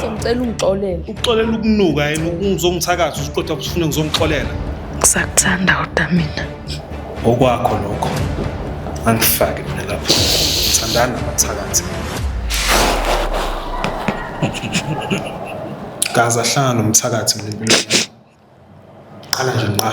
Sengicela ungixolele. Uxolela ukunuka yena ukuzongithakatha usuqotha kusifuna ngizongixolela. Ngisakuthanda kodwa mina. Okwakho lokho. Angifake mina lapho. Ngithandana nabathakathi. Gaza hlanga nomthakathi mina impilo yami. Qala nje nqa.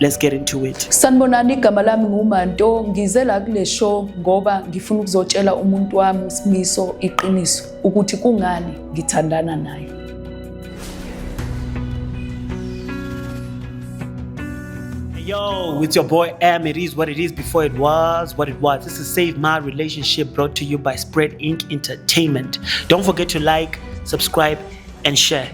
Let's get into it. Sanibonani igama lami nguManto ngize la kule show ngoba ngifuna ukuzotshela umuntu wami uSimiso iqiniso ukuthi kungani ngithandana naye. Yo, it's your boy M. It is what it is before it was what it was. This is Save My Relationship brought to you by Spread Inc. Entertainment. Don't forget to like, subscribe, and share.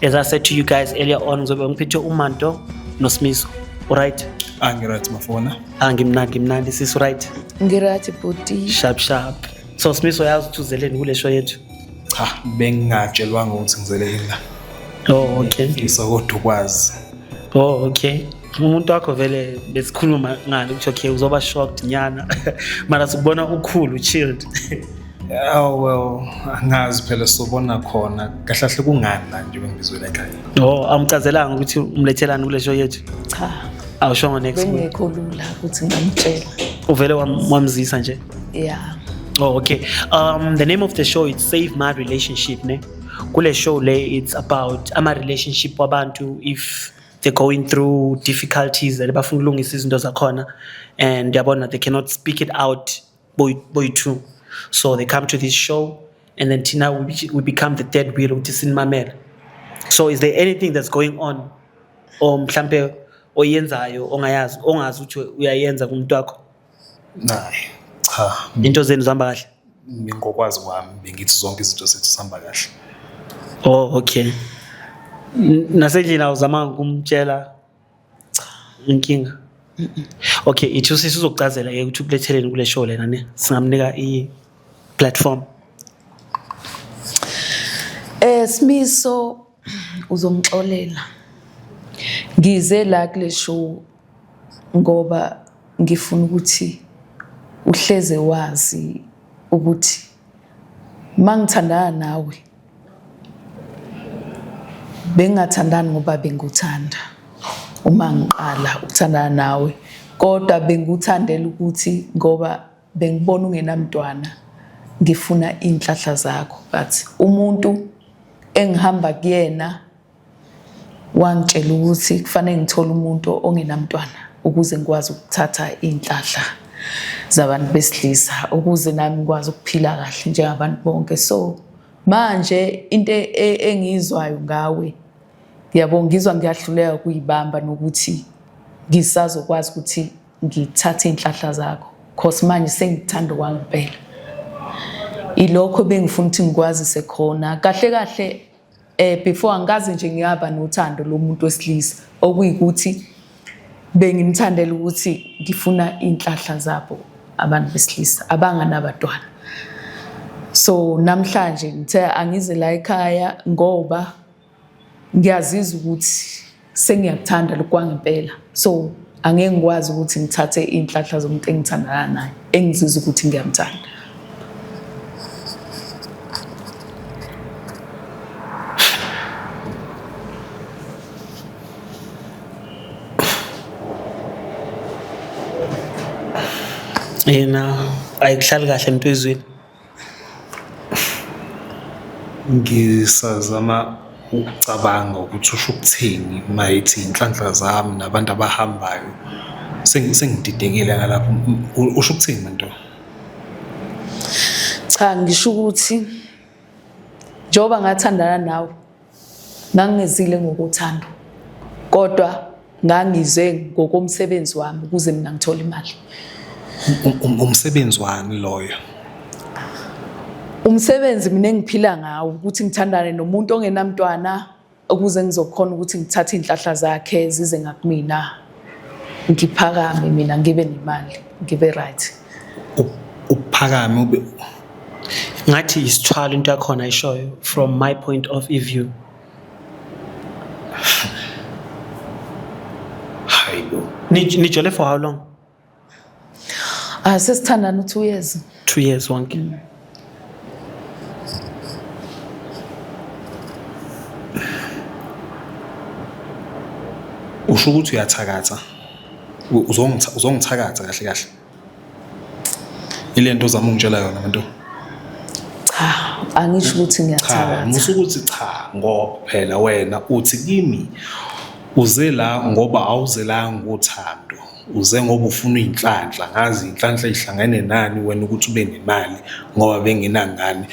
As I said to you guys earlier on ngizobe ngiphethe uManto noSmiso. Alright? Ah ngiright bafona. Ah ngimnandi ngimnandi sis right? Ngiright bhuti. Sharp sharp. So Smiso yazi ukuthi uzeleni kule show yethu. Cha bengingatshelwanga ukuthi ngizeleni la. Oh okay. Ngisa kodwa ukwazi. Oh okay. umuntu wakho vele besikhuluma ngani ukuthi okay uzoba shocked nyana mara sikubona ukhulu chilled Oh well, angazi phela sobona khona. Kahle kahle kungani la nje bengibizwela ekhaya. Oh, amchazelanga ukuthi umlethelani kule show yethu. Cha. Awushongo next week. Bengekho lula ukuthi ngamtshela. Uvele wamzisa nje? Yeah. Oh, okay. Um the name of the show is Save My Relationship, ne? Kule show le it's about ama relationship wabantu if they're going through difficulties and bafuna ukulungisa izinto zakhona and yabona they cannot speak it out boy boy two so they come to this show and then tina we, we become the dead wheel ukuthi sinimamela so is there anything that's going on or mhlampe oyenzayo ongayazi ongazi ukuthi uyayenza kumuntu wakho Nayi cha into zenu zihamba kahle ngokwazi kwami bengithi zonke izinto zethu sihamba kahle oh okay nasendlini awuzamanga kumtshela inkinga okay ithi usisi uzokucazela ke ukuthi ukuletheleni kule show lena ne singamnika i platform eh simiso uzongixolela ngize la kule show ngoba ngifuna ukuthi uhleze wazi ukuthi mangithandana nawe bengingathandani ngoba benguthanda uma ngiqala ukuthandana nawe kodwa benguthandela ukuthi ngoba bengibona ungenamntwana ngifuna iy'nhlahla zakho but umuntu engihamba kuyena wangitshela ukuthi kufanele ngithole umuntu ongenamntwana ukuze ngikwazi ukuthatha iy'nhlahla zabantu besilisa ukuze nami ngikwazi ukuphila kahle njengabantu bonke so manje into e, e, engiyizwayo ngawe yabo ngizwa ngiyahluleka kuyibamba nokuthi ngisazokwazi ukuthi ngithathe iy'nhlahla zakho cause manje sengithanda okwangempela ilokho bengifuna ukuthi ngikwazise khona kahle kahle eh before angikaze nje ngiyaba nothando lomuntu wesilisa okuyikuthi bengimthandela ukuthi ngifuna inhlahla zabo abantu besilisa abanganabadwana so namhlanje ngithe angize la ekhaya ngoba ngiyazizwa ukuthi sengiyakuthanda lokhu kwangempela so angeke ngikwazi ukuthi ngithathe iy'nhlahla zomuntu engithandana naye engizizwa ukuthi ngiyamthanda yena ayikuhlali kahle ntwezweni Ngisazama ukucabanga ukuthi usho ukuthini uma ethi iy'nhlanhla zami nabantu abahambayo. Sengididekile ngalapho, usho ukuthini le nto? Cha ngisho ukuthi njengoba ngathandana nawe Ngangizile ngokuthando kodwa ngangize ngokomsebenzi wami ukuze mina ngithole imali. Um, um, umsebenzi wani loyo? Umsebenzi mina engiphila ngawo ukuthi ngithandane nomuntu ongenamntwana ukuze ngizokhona ukuthi ngithathe inhlahla zakhe zize ngakumina. ngiphakame mina ngibe nemali ngibe right uphakame ube ngathi isithwalo into yakhona ishoyo from my point of view hayibo nijole for how long Ah sesithandana u2 years. 2 years wonke. Mm. Usho ukuthi uyathakatha. Uzongitha uzongithakatha kahle kahle. Ilento ozama ungitshela yona manje. Cha, angisho ukuthi ngiyathakatha. Cha, musu ukuthi cha ngoba phela wena uthi kimi uze la ngoba awuzelanga uthando. uze ngoba ufuna iy'nhlanhla ngazi iy'nhlanhla ey'hlangene nani wena ukuthi ube nemali ngoba bengenangane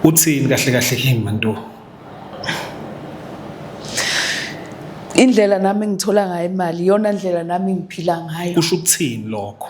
uthini kahle kahle kimi mantu indlela nami engithola ngayo imali iyona ndlela nami engiphila ngayo kusho ukuthini lokho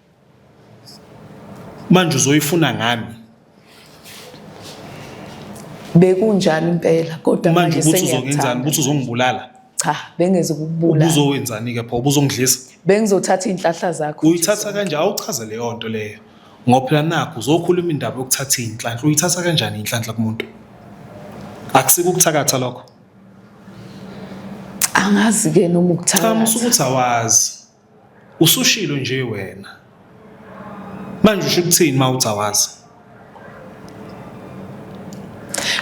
manje uzoyifuna ngani bekunjalo impela kodwa manje ukuthi uzongenzani ukuthi uzongibulala cha bengeze ukubulala ubuzowenzani ke pho ubuzongidlisa bengizothatha izinhlahla zakho uyithatha kanje awuchaze leyo nto leyo ngophela nakho uzokhuluma indaba yokuthatha izinhlanhla uyithatha kanjani inhlanhla kumuntu akusike ukuthakatha lokho angazi ke noma ukuthakatha cha musukuthi awazi Usushilo nje wena. Manje usho ukuthini uma uthi awazi?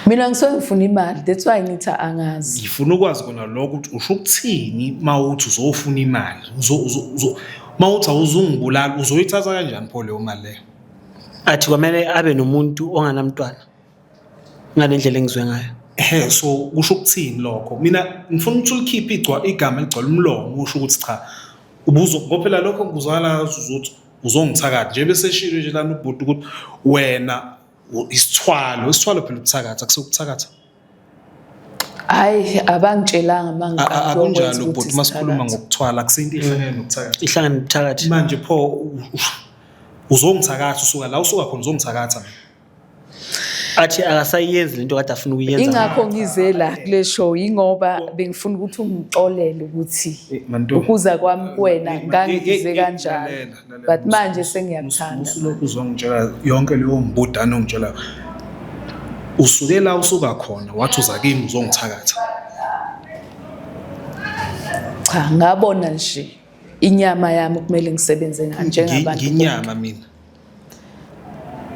Mina ngisuke ngifuna imali, that's why ngithi angazi. Ngifuna ukwazi kona lokho ukuthi usho ukuthini uma uthi uzofuna imali. Uzo uzo uma uthi awuzungibulala uzoyithatha kanjani pho leyo mali leyo? Athi kwamele abe nomuntu onganamntwana. ngale ndlela engizwe ngayo ehe so kusho ukuthini lokho mina ngifuna ukuthi ulikhiphe igcwa igama eligcwala umlomo usho ukuthi cha ubuzo ngophela lokho ngikuzwakala uzothi uzongithakatha nje bese eshilo nje lana ubhuti ukuthi wena isithwalo isithwalo phela ukuthakatha kusekuthakatha hayi abangitshelanga mangaka akunjalo ubhuti masikhuluma ngokuthwala kusinto ihlangene nokuthakatha ihlangene nokuthakatha manje pho uzongithakatha usuka la usuka khona uzongithakatha mina athi akasayenzi lento kade afuna ukuyenza ingakho ngize la kule show ingoba bengifuna ukuthi ungixolele ukuthi eh, ukuza kwami kuwena eh, ngangize eh, kanjalo but manje sengiyakuthanda usulokhu uzongitshela yonke leyo mbudane ongitshela usuke la usuka khona wathi uza kimi uzongithakatha cha ngabona nje inyama yami kumele ngisebenze ngayo njengabantu nginyama mina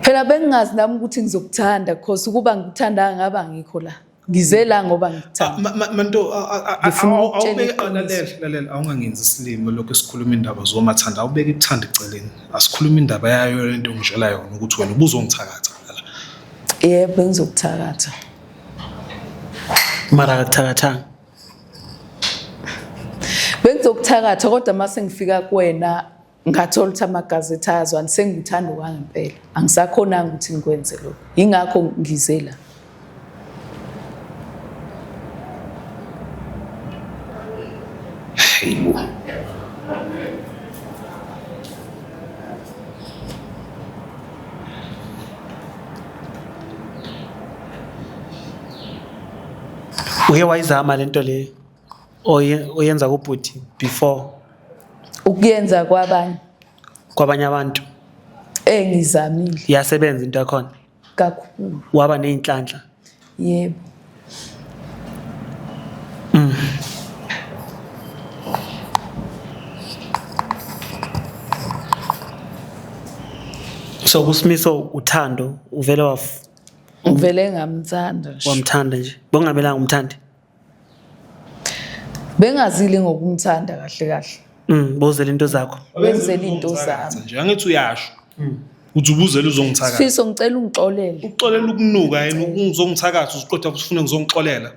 phela bengingazi nami ukuthi ngizokuthanda because ukuba ngikuthanda ngaba ngikho la ngize la ngoba ngikuthanda ah, manto awubekelalela awungangenzi isilimo lokho esikhuluma indaba zomathanda awubeke ikuthanda eceleni asikhuluma indaba yayo lento ngijela yona ukuthi wena ubuzongithakatha la yebo bengizokuthakatha mara akakuthakathanga bengizokuthakatha kodwa mase ngifika kuwena ngathola ukuthi amagazethi ayazwani sengithanda okwangempela angisakhonanga ukuthi ngikwenze lokho yingakho ngize la hayibo uye wayizama le nto leyo Oye- oyenza kubhuti before ukuyenza kwabanye kwabanye abantu engizamile iyasebenza into yakhona kakhulu waba ney'nhlanhla yebo so kusimiso uthando uvele waf- ngivele ngamthanda nje wamthanda nje bongamelanga umthande bengazile ngokumthanda kahle kahle mm bozela into zakho benzela into zami nje angithi uyasho mm. uthi ubuzela uzongithakatha sifiso ngicela ungixolele uxolela ukunuka yena ukuzongithakatha usiqotha kusifuna ngizongixolela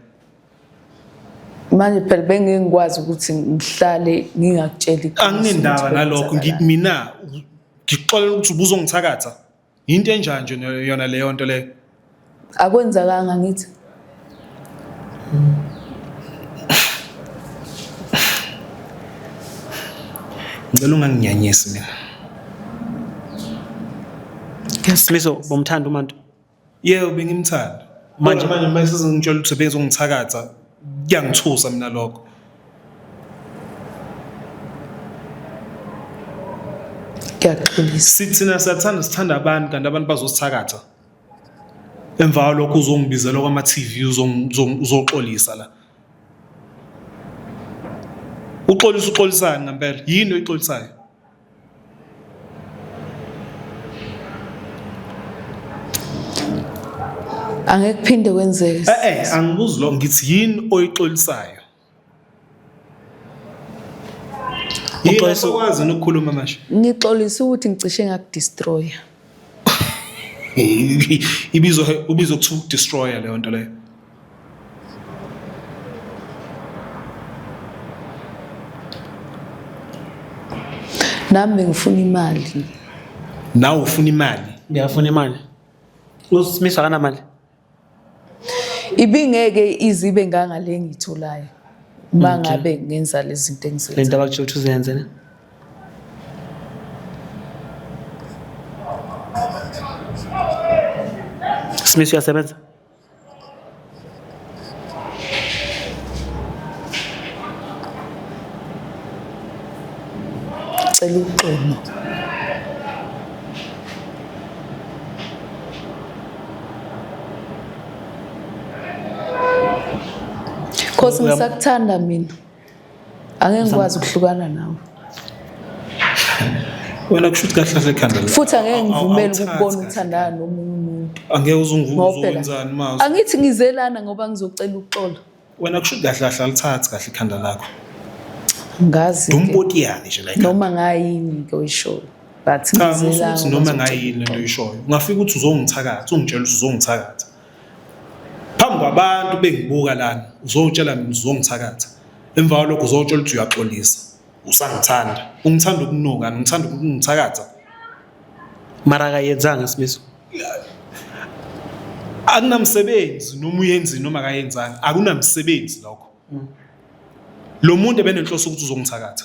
manje phela bengeke ngikwazi ukuthi ngihlale ngingakutsheli anginendaba nalokho ngimina ngixolela ukuthi ubuzongithakatha Yinto enjani nje no- yona leyo nto leyo? akwenzakanga ngithi Ngicela unganginyanyisi mina. Smiso bomthanda uMantu. Yebo bengimthanda. Manje- Manje manje mase sengitshela ukuthi bengizongithakatha kuyangithusa mina lokho ngiyaxolisa sithina siyathanda sithanda abantu kanti abantu bazosithakatha emva kwalokho uzongibizela kwama-tv uzong- uzong- uzoxolisa la uxolisa uxolisani ngampela yini oyixolisayo angeke kuphinde kwenzeke eh eh angibuzi lo ngithi yini oyixolisayo Uxolisa ukwazi ukukhuluma manje. Ngixolisa ukuthi ngicishe ngakudestroya. Ibizo ubizo kuthiwa ukudestroya leyo nto leyo. nami bengifuna imali nawe ufuna imali ngiyafuna imali usimisa kanamali ibingeke izibe ngangale ngiyitholayo uma ngabe ngenza lezi zinto engizenza le nto abakutsho ukuthi uzenze ne Smith uyasebenza Cela uxolo. Khosi ngisakuthanda mina. angeke ngikwazi ukuhlukana nawe wena kusho ukuthi kahle kahle khanda futhi angeke ngivumele ukubona uthandana nomunye umuntu angeke uzunguzowenzani mazi angithi ngizelana ngoba ngizocela ukuxola wena kusho ukuthi kahle kahle alithathi kahle ikhanda lakho ngazi dumbotiyani nje like noma ngayini ke uyishoyo but ngizelana noma ngayini lento uyishoyo ungafika ukuthi uzongithakatha ungitshela ukuthi uzongithakatha phambi kwabantu bengibuka lana uzowutshela mina uzongithakatha emva kwalokho uzowutshela ukuthi uyaxolisa usangithanda ungithanda ukunuka ngithanda ukungithakatha mara akayenzanga simiso akunamsebenzi noma uyenzini noma akayenzanga akunamsebenzi lokho lo muntu ebenenhloso ukuthi uzongithakatha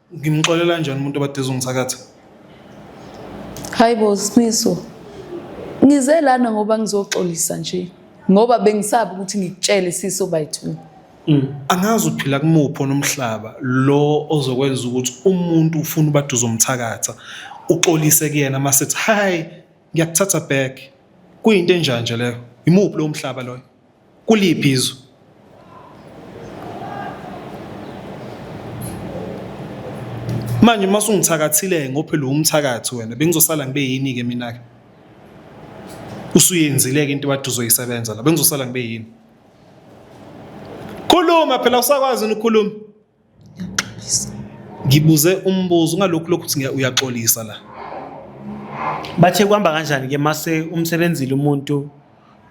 Ngimxolela njani umuntu obade ezongithakatha? Hayi bo Smiso. Ngize lana ngoba ngizoxolisa nje. Ngoba bengisabi ukuthi ngikutshele siso by 2. Mm. Angazi uphila kumupho nomhlaba lo ozokwenza ukuthi umuntu ufuna ubade uzomthakatha uxolise kuyena mase ethi hi ngiyakuthatha back. Kuyinto enjanje leyo. Imuphi lo mhlaba loyo? kuliphi izwe manje uma sungithakathile ngophela umthakathi wena bengizosala ngibe yini ke mina ke usuyenzile ke into bathi uzoyisebenza la bengizosala ngibe yini khuluma phela usakwazi ukukhuluma Ngiyaxolisa. Ngibuze umbuzo ungalokhu lokhu ukuthi uyaxolisa la. Bathe kuhamba kanjani ke mase umsebenzile umuntu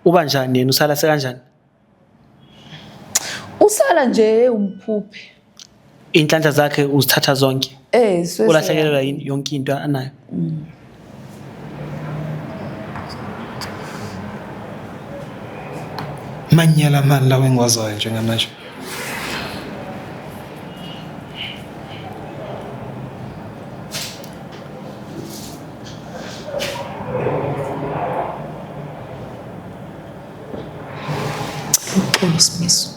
uba njani yena usala sekanjani? Usala nje umphuphe. Inhlanhla zakhe uzithatha zonke. Eh, ulahlekelwa yonke into anayo. Mm. Manyala amani lawo engiwazayo njengamanje. Uxolo Smiso.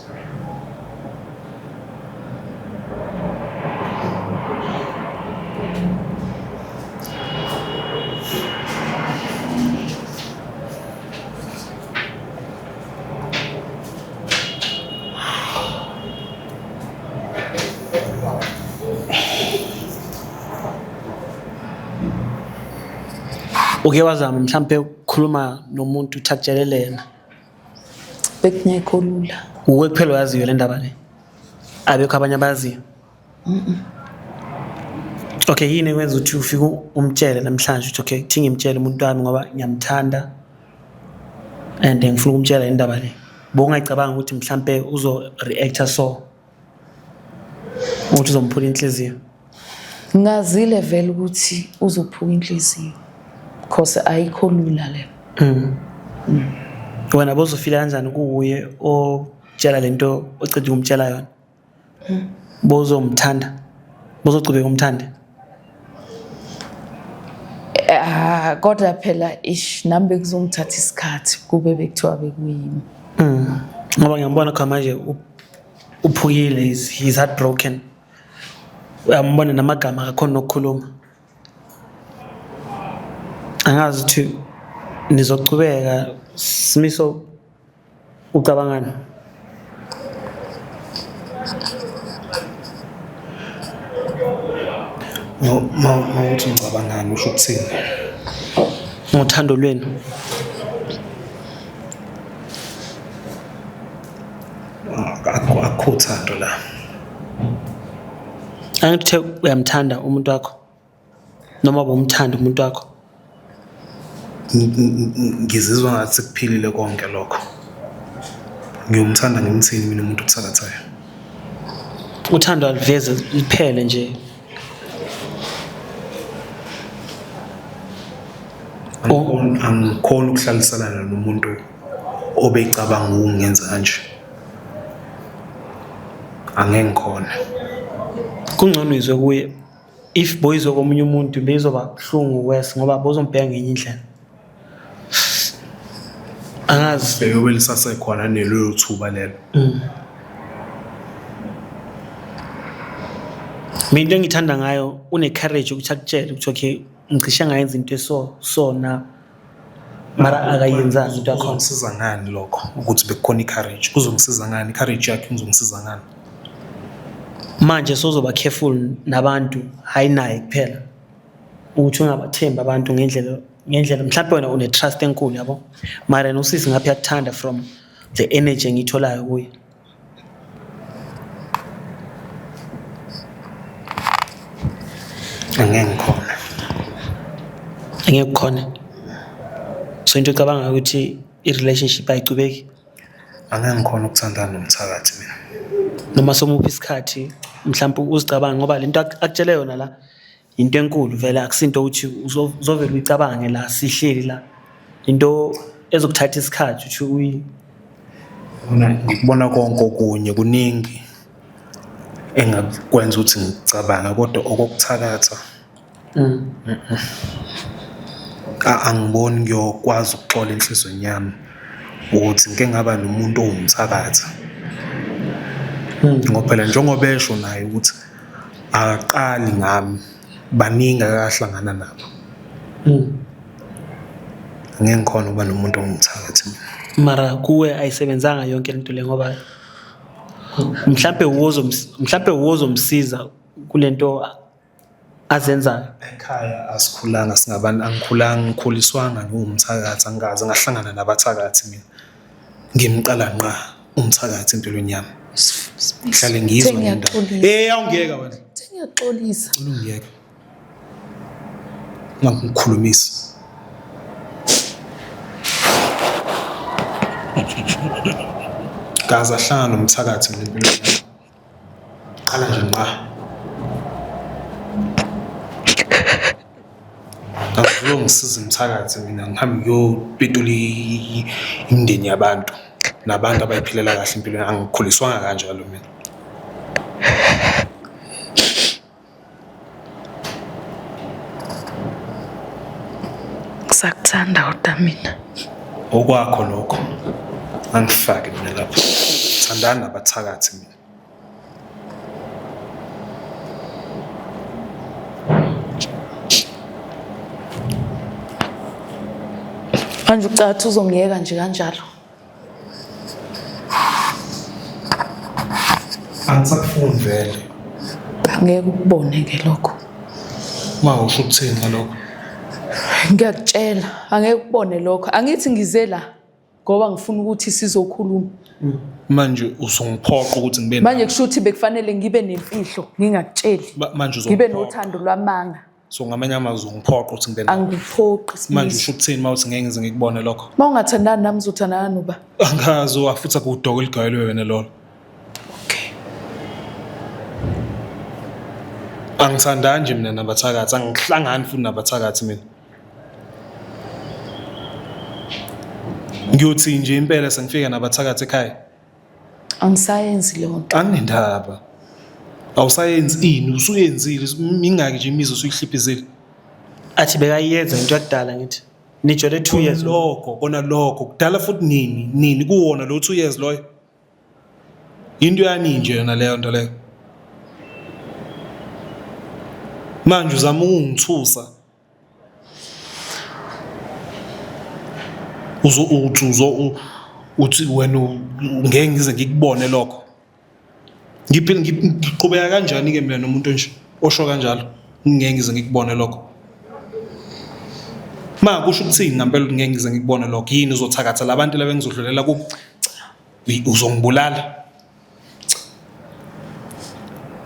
Uke wazama mhlampe khuluma nomuntu thathelelena bekungekho lula uwe kuphela oyaziyo le ndaba le abekho abanye abaziyo okay yini ekwenza ukuthi ufike umtshele namhlanje ukuthi okay thi ngimtshele umuntu wami ngoba ngiyamthanda and ngifuna ukumtshela indaba le bowungayicabanga ukuthi mhlampe uzo-reacta so ukuthi uzomphula inhliziyo ngazile vele ukuthi uzophuka inhliziyo because ayikho lula le mm. mm. wena bozofila kanjani kuwuye otshela lento oceda ukumtshela yona mm. bozomthanda bozogcubeka umthande Ah kodwa phela ish nami bekuzongithatha isikhathi kube bekuthiwa bekuyimi. Mm. Ngoba ngiyambona cha manje uphukile is he's heartbroken. Uyambona namagama akakhona nokukhuluma. Angazi ukuthi nizochubeka simiso ucabangani mawuthi ngicabangani usho ukuthini ngothando lwenu akho thando la angithe uyamthanda umuntu wakho noma ubumthanda umuntu wakho ngizizwa ngathi sekuphilile konke lokho ngiyomthanda ngimthini mina umuntu othakathayo uthando aliveze liphele nje angikhona ukuhlalisalana nomuntu obecabanga ukungenza kanje angeke ngikhona kungcono izwe kuye if boyizo komunye umuntu beyizoba buhlungu worse ngoba bozombheka ngenye indlela angazi beyobe lisasekhona nelelo thuba lelo mm. mina into engithanda ngayo une-courage ukuthi akutshele ukuthi okay ngicishe ngayenza into eso so na mara akayenzanga into yakhona kuzongisiza ngani lokho ukuthi bekukhona i-courage kuzongisiza ngani i-courage yakhe kuzongisiza ngani manje sozoba careful nabantu hayi naye kuphela ukuthi ungabathembi abantu ngendlela ngendlela mhlawumbe wena une-trust enkulu yabo mara yena usisi ngapha yakuthanda from the energy engiyitholayo kuye Angeke ngikhona. Angeke kukhona. So into ecabanga ukuthi i-relationship ayicubeki Angeke ngikhona ukuthandana nomthakathi mina. noma somuphi isikhathi mhlawumbe uzicabanga ngoba lento ak- akutshele yona la into enkulu vele akusinto ukuthi uzovele uyicabange la sihleli la into ezokuthatha isikhathi ukuthi uyi ngikubona konke okunye kuningi engakwenza ukuthi ngicabanga kodwa okokuthakatha mm. angiboni ngiyokwazi ukuxola enhlizweni yami ukuthi ngike ngaba nomuntu owumthakatha mm. ngoba phela njengoba esho naye ukuthi akaqali ngami baningi akahlangana nabo mm. ngeke ngikhona ukuba nomuntu ongumthakathi mara kuwe ayisebenzanga yonke lento le ngoba mhlambe uwozo mhlambe uwozo msiza kulento azenzayo ekhaya asikhulanga singabantu angikhulanga ngikhuliswanga ngiwumthakathi angikaze ngahlangana nabathakathi mina ngimqala nqa umthakathi empilweni yami ngihlale ngizwa ngendaba eh awungiyeka wena ngiyaxolisa ungiyeka ngangikhulumisa kaze ahlangana nomthakathi mina empilweni yami Qala nje ngqa. Akulo ngisiza umthakathi mina ngihambe ngiyopetula i- imindeni yabantu nabantu abayiphilela kahle impilo angikhuliswanga kanjalo mina. Ngisakuthanda kodwa mina. Okwakho lokho. Angifake mina lapho. Thandana nabathakathi mina. Manje ucathi uzongiyeka nje kanjalo. angisakufuni vele ngeke ukubone ke lokho ma usho ukuthini ngalokho ngiyakutshela angeke ukubone lokho angithi ngize la ngoba ngifuna ukuthi sizokhuluma manje usungiphoqa ukuthi ngibe manje kusho ukuthi bekufanele ngibe nemfihlo ngingakutsheli Ma- manje ngibe uzongiphoqa. nothando lwamanga so ngamanye amazwi ungiphoqa ukuthi ngibe nawe angiphoqi manje Sibisi. usho ukuthini uma uthi ngeke ngize ngikubone lokho Uma ungathandani nami uzothandana noba. angazi wafuthi akuwudoko eligayelwe wena lolo Okay. angithandani nje mina nabathakathi angihlangani futhi nabathakathi mina ngiyothi nje impela sengifika nabathakathi ekhaya angisayenzi leyo nto anginendaba awusayenzi ini usuyenzile mingaki nje imizi usuyihlipizile athi bekayenza into yakudala ngithi nijole 2 years lokho kona lokho kudala futhi nini nini kuwona lo 2 years loyo into yani nje yona leyo nto leyo manje uzama ukungithusa uzo uthi uzo uthi wena ngeke ngize ngikubone lokho ngiphile ngiqhubeka kanjani ke mina nomuntu onje osho kanjalo ngeke ngize ngikubone lokho ma kusho ukuthini ngempela ngeke ngize ngikubone lokho yini uzothakathela abantu laba ngizodlulela ku uzongibulala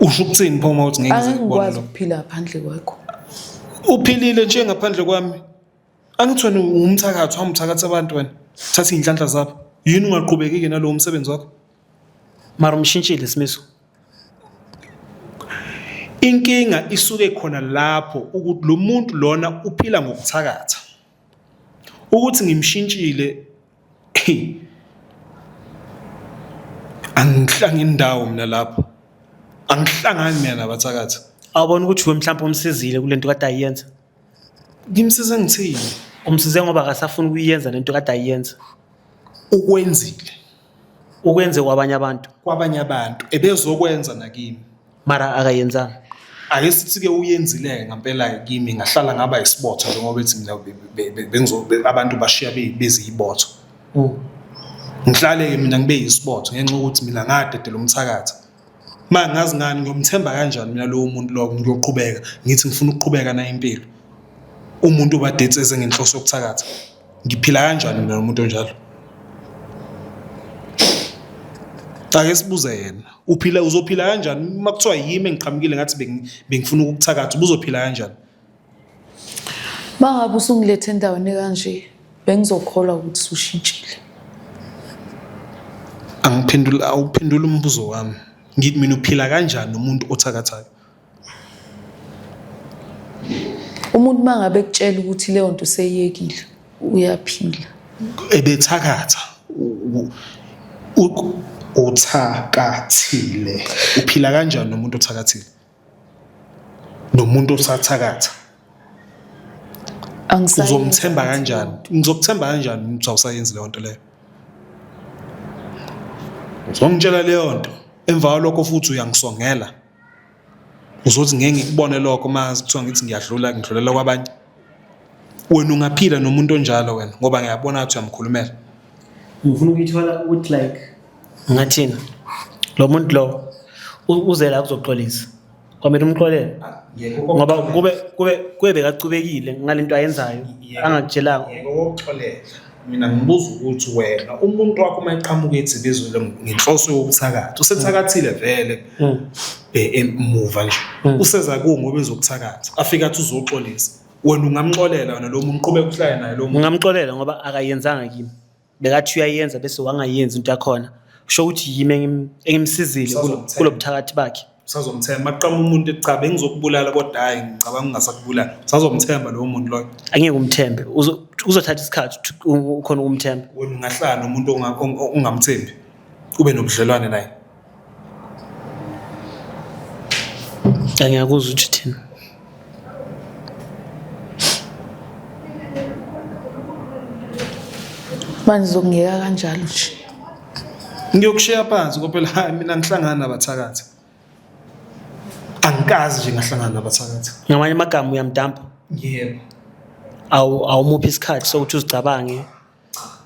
Usho ukuthini pho uma uthi ngeke ngize ngikubone angikwazi lo? ukuphila phandle kwakho Uphilile nje ngaphandle kwami. Angithi wena ungumthakathi, hamba uthakatha abantu wena. Thatha iy'nhlanhla zabo. Yini ungaqhubeki-ke nalowo msebenzi wakho? Mara umshintshile isimiso. Inkinga isuke khona lapho ukuthi lo muntu lona uphila ngokuthakatha. ukuthi ngimshintshile angihlanga indawo mina lapho angihlangani mina nabathakathi awubona ukuthi we mhlawumbe umsizile kule nto kade ayiyenza ngimsize ngithini umsize ngoba akasafuni ukuyenza lento kade ayenza ukwenzile ukwenze kwabanye abantu kwabanye abantu ebezokwenza nakimi mara akayenzanga ake sithi-ke uyenzile-ke ngampela-ke kimi ngahlala ngaba isibotho njengoba bethi mina be- be- be- bengizo- be- abantu bashiya be- beziyibotho ngihlale-ke mina ngibe yisibotho ngenxa yokuthi mina ngadedela umthakathi manje ngazi ngani ngiyomthemba kanjani mina lowo muntu lowo ngiyoqhubeka ngithi ngifuna ukuqhubeka nayo impilo umuntu ubadate eze ngenhloso yokuthakatha ngiphila kanjani mina nomuntu onjalo ake sibuze yena uphila uzophila kanjani uma kuthiwa yimi engiqhamukile ngathi bengifuna ukukuthakatha ubuzophila kanjani Bangabe usungilethe endaweni kanje bengizokholwa ukuthi sushintshile. Angiphendula awuphendula umbuzo wami. Ngithi mina uphila kanjani nomuntu othakathaka? Umuntu mangabe ekutshela ukuthi leyo nto seyiyekile uyaphila. Ebethakatha uthakathile. Uphila kanjani nomuntu othakathile? nomuntu osathakatha uzomthemba kanjani ngizokuthemba kanjani umuntu awusayenzi leyo nto leyo uzongitshela leyo nto emva kwalokho futhi uyangisongela uzothi ngeke ngikubone lokho uma kuthiwa ngithi ngiyadlula ngidlulela kwabanye wena ungaphila nomuntu onjalo wena ngoba ngiyabona ukuthi uyamkhulumela ngifuna ukuyithola ukuthi like ngathina lo muntu lo uze la kuzoxolisa kwamele umxolele ngoba kube kube kube bekacubekile ngalento ayenzayo angakutshelanga mina ngibuza ukuthi wena umuntu wakho uma eqhamuka ethi bezwele ngenhloso yokuthakatha usethakathile vele hmm. emuva nje hmm. useza kuwo ngoba ezokuthakatha afika athi uzoxolisa wena ungamxolela wena lo muntu uqhubeka uhlale naye lo muntu ungamxolela ngoba akayenzanga kimi bekathi uyayenza bese wangayenzi into yakhona kusho ukuthi yimi engimsizile kulobuthakathi bakhe usazomthemba maqama umuntu cha bengizokubulala kodwa hayi ngicabanga ungasakubulala usazomthemba lowo muntu loyo angeke umthembe Uzo- kuzothatha isikhathi ukuthi u- ukhona ukumthemba wena ungahlala nomuntu onga- ong- ong- ongamthembi ube nobudlelwane naye angiyakuzwa ukuthi thina manje zokungiyeka kanjalo nje ngiyokushiya phansi ngoba phela hayi mina ngihlangana nabathakathi angikazi nje ngahlangana nabathakathi ngamanye amagama uyamdampa yebo awu awumuphi isikhathi sokuthi uzicabange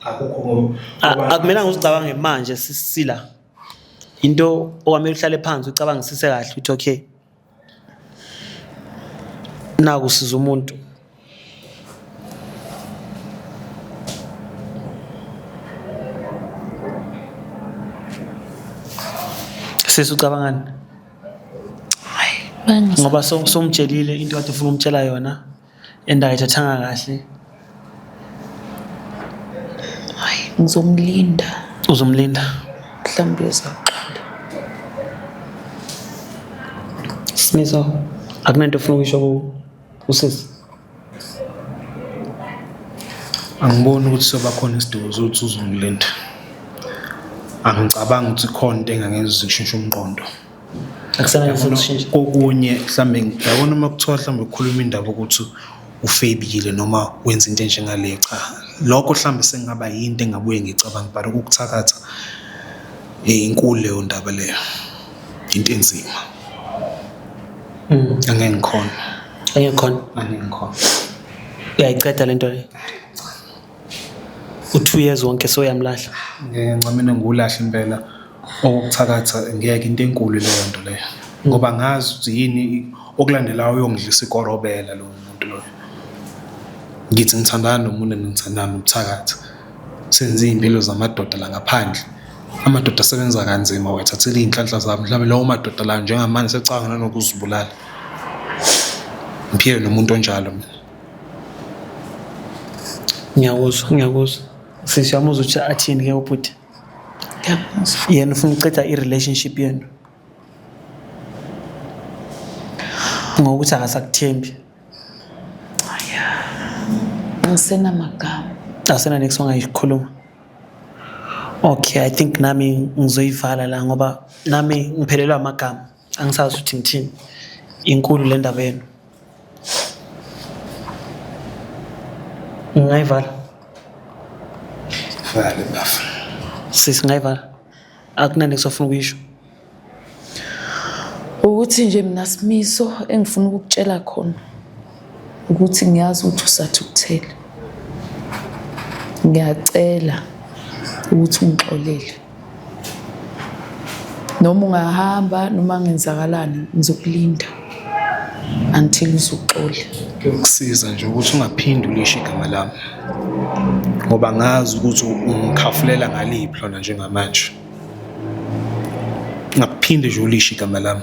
akukho ngoba A- akumelanga uzicabange manje sisila into okwamele uhlale phansi ucabangisise kahle ukuthi okay Naku usiza umuntu. Sisi ucabangani? Ngoba sewumtshelile into okade ufuna ukumtshela yona. and ayithathanga kahle hayi ngizomlinda uzomlinda mhlawumbe uzoxola smiso akunanto ofuna ukuyisho usisi angiboni ukuthi soba khona isidingo sokuthi uzongilinda angicabangi ukuthi khona into engangenza ukuthi kushintshe umqondo akusebenzi ukushintsha kokunye mhlambe yabona uma kuthiwa mhlambe ukhuluma indaba ukuthi ufebile noma wenza into enjengaleyo cha lokho mhlambe sengaba yinto engabuye ngicabanga but ukukuthakatha eh, inkulu leyo ndaba leyo into enzima mm. angeke ngikhona angeke ngikhona angeke ngikhona uyayiqeda lento le u-two years wonke soyamlahla ngeke ncamine ngiwulahle impela Okokuthakatha ngeke into enkulu leyo nto leyo ngoba ngazi ukuthi yini okulandelayo uyongidlisa ikora obela lowo muntu loyo. Ngithi ngithandana nomuntu and ngithandana nokuthakatha. Senze iy'mpilo zamadoda la ngaphandle. Amadoda asebenza kanzima uwathathela iy'nhlanhla zabo mhlawumbe lawo madoda lawo njengamanje secabanga nanokuzibulala. Ngiphila nomuntu onjalo mina. Ngiyakuzwa ngiyakuzwa sisi yami uzwe ukuthi athini ke ubhuti. yena ufuna ukuceda i-relationship yenu ngokuthi akasakuthembi ngisenamagama asena next ongayikhuluma okay i think nami ngizoyivala la ngoba nami ngiphelelwa amagama angisazi ukuthi ngithini inkulu le ndaba yenu ngayivala vale bafo sisi ngayivala akunani kusafuna ukuyisho ukuthi nje mina simiso engifuna ukukutshela khona ukuthi ngiyazi ukuthi usathukuthele ngiyacela ukuthi ungixolele noma ungahamba noma ngenzakalani ngizokulinda until uzoxola kusiza nje ukuthi ungaphindi ulisho igama lami ngoba ngazi ukuthi ungikhafulela ngaliphi lona njengamanje ngakuphinde nje ulisho igama lami